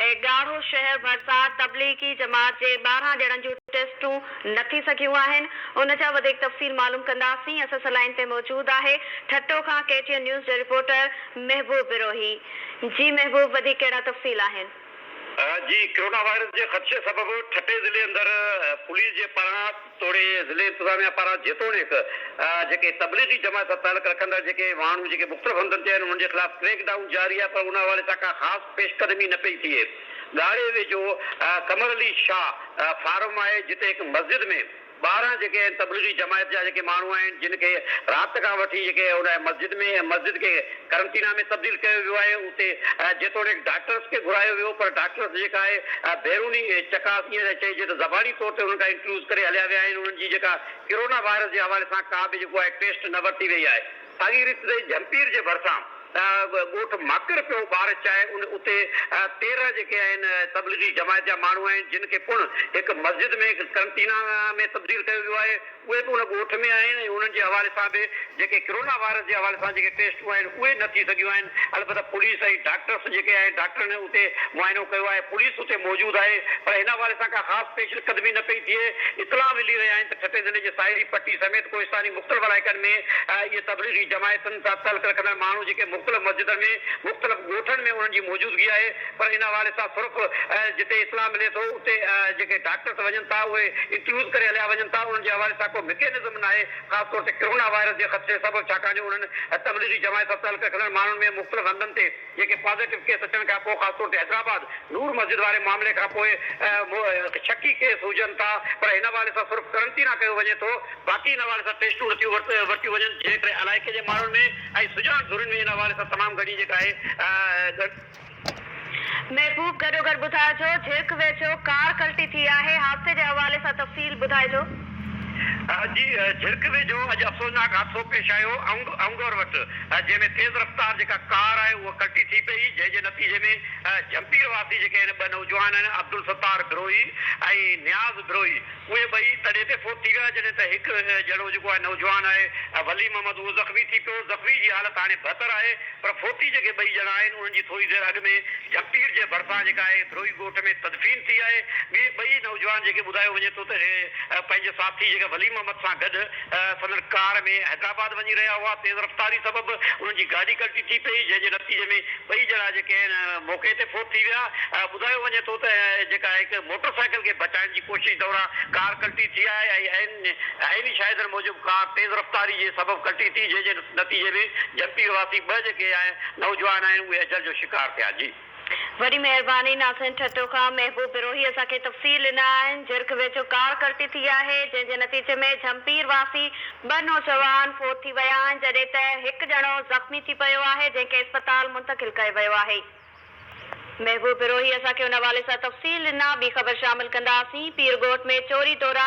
اي ڳاڙهو شهر ڀرسان تبليغي جماعت جي ٻارهن ڄڻن جون ٽيسٽون نه ٿي سگهيون آهن ان جا وڌيڪ تفصيل معلوم ڪنداسين اسس لائين تي موجود آهي ٺٽو کان ڪي ٽي اين نيوز جي رپورٽر محبوب بروهي جي محبوب وڌيڪ ڪهڙا تفصيل آهن. جي ڪرونا وائرس جي خدشي سبب ٺٽي ضلعي اندر پوليس جي پاران توڙي ضلعي انتظاميا پاران جيتوڻيڪ جيڪي تبليغي جماعت سان تعلق رکندڙ جيڪي ماڻهو جيڪي مختلف هنڌن تي آهن انهن جي خلاف ڪريڪ ڊائون جاري آهي پر ان حوالي سان ڪا خاص پيش قدمي نه پئي ٿئي. ڳاڙهي ويجهو قمر علي شاهه فارم آهي جتي هڪ مسجد ۾ ٻاهران جيڪي آهن تبليغي جماعت جا جيڪي ماڻهو آهن جن کي رات کان وٺي جيڪي ان مسجد ۾ مسجد کي قرنطينه ۾ تبديل ڪيو ويو آهي اتي جيتوڻيڪ ڊاڪٽرس کي گهرايو ويو پر ڊاڪٽرس جيڪا آهي بيروني چڪاس ائين ٿا چئجي ته زباني طور تي انهن کان انٽرويوز ڪري هليا ويا آهن انهن جي جيڪا ڪرونا وائرس جي حوالي سان ڪا به جيڪو آهي ٽيسٽ نه ورتي وئي آهي ساڳي ريت تي جهمپير جي ڀرسان ڳوٺ ماڪر پيو ٻار چائي ان اتي تيرهن جيڪي آهن تبليغي جماعت جا ماڻهو آهن جن کي پڻ هڪ مسجد ۾ قرنطينه ۾ تبديل ڪيو ويو آهي اهي به ان ڳوٺ ۾ آهن ۽ انهن جي حوالي سان به جيڪي ڪرونا وائرس جي حوالي سان جيڪي ٽيسٽون آهن اهي نه ٿي سگهيون آهن البته پوليس ۽ ڊاڪٽرس جيڪي آهن ڊاڪٽرن اتي معائنو ڪيو آهي پوليس اتي موجود آهي پر هن حوالي سان ڪا خاص پيش قدمي نه پئي ٿئي اطلاع ملي رهيا آهن ته ٺٽي ضلعي جي ساحلي پٽي سميت ڪوهستاني مختلف علائقن ۾ اهي تبليغي جماعتن سان تعلق رکندڙ ماڻهو جيڪي مختلف مسجدن ۾ مختلف ڳوٺن ۾ انهن جي موجودگي آهي پر ان حوالي سان صرف جتي اطلاع ملي ٿو اتي جيڪي ڊاڪٽرس وڃن ٿا اهي انٽرويوز ڪري هليا وڃن ٿا انهن جي حوالي سان ڪو مڪينزم ناهي خاص طور تي ڪرونا وائرس جي خدشي سبب ڇاڪاڻ جو انهن تبليغي جماعت سان تعلق رکندڙ ماڻهن ۾ مختلف هنڌن تي جيڪي پازيٽو ڪيس اچڻ کان پوء خاص طور تي حيدرآباد نور مسجد واري معاملي کان پوء شڪي ڪيس هجن ٿا پر ان حوالي سان صرف قرنطينه ڪيو وڃي ٿو باقي ان حوالي سان ٽيسٽون نٿيون ورتيون وڃن جنهن ڪري علائقي جي ماڻهن ۾ ۽ سڄاڻ ڌرين ۾ ان حوالي سان تمام گهڻي جيڪا آهي محبوب گڏوگڏ ٻڌائجو جهرڪ ويجهو ڪار ڪلٽي ٿي آهي حادثي جي حوالي سان تفصيل ٻڌائجو. جي جهرڪ ويجهو اڄ افسوسناڪ حادثو پيش آيو اونگور وٽ جنهن ۾ تيز رفتار جيڪا ڪار آهي اهو ڪلٽي ٿي پئي جنهن جي نتيجي ۾ جهمپير واسي جيڪي آهن ٻه نوجوان آهن عبدالستار بروهي ۽ نياز بروهي اهي ٻئي تڏهن تي فوت ٿي ويا جڏهن ته هڪ ڄڻو جيڪو آهي نوجوان آهي ولي محمد اهو زخمي ٿي پيو، زخمي جي حالت هاڻي بهتر آهي پر فوتي جيڪي ٻئي ڄڻا آهن انهن جي ٿوري دير اڳ ۾ جهپٽير جي ڀرسان جيڪا آهي ڌروهي ڳوٺ ۾ تدفين ٿي آهي، ٻئي نوجوان جيڪي ٻڌايو وڃي ٿو ته اهي پنهنجي ساٿي جيڪي ولي محمد سان گڏ. سندن ڪار ۾ حيدرآباد وڃي رهيا هئا. تيز رفتاري سبب انهن جي گاڏي ڪلٽي ٿي پئي، جنهن جي نتيجي ۾ ٻئي ڄڻا جيڪي آهن موقعي تي فوت ٿي ويا. ٻڌايو وڃي ٿو ته جيڪا هڪ موٽر سائيڪل کي بچائڻ جي ڪوشش دوران ڪار ڪلٽي ٿي آهي ۽ عيني شاهدن موجب ڪار تيز رفتاري جي سبب ڪلٽي ٿي جنهن جي نتيجي ۾ جهمپي واسي ٻه جيڪي نوجوان آهن اهي اجل جو شڪار ٿيا. وڏي مهرباني ناصحين ٺٽو کان محبوب بروهي اسان کي تفصيل ڏنا آهن جرڪ ويجهو ڪار ڪرتي ٿي آهي جنهن جي نتيجي ۾ جهمپير واسي ٻه نوجوان فوت ٿي ويا آهن جڏهن ته هڪ ڄڻو زخمي ٿي پيو آهي جنهن کي اسپتال منتقل ڪيو ويو آهي محبوب بروهي اسان کي ان حوالي سان تفصيل ڏنا ٻي خبر شامل ڪنداسين پيرڳوٺ ۾ چوري دوران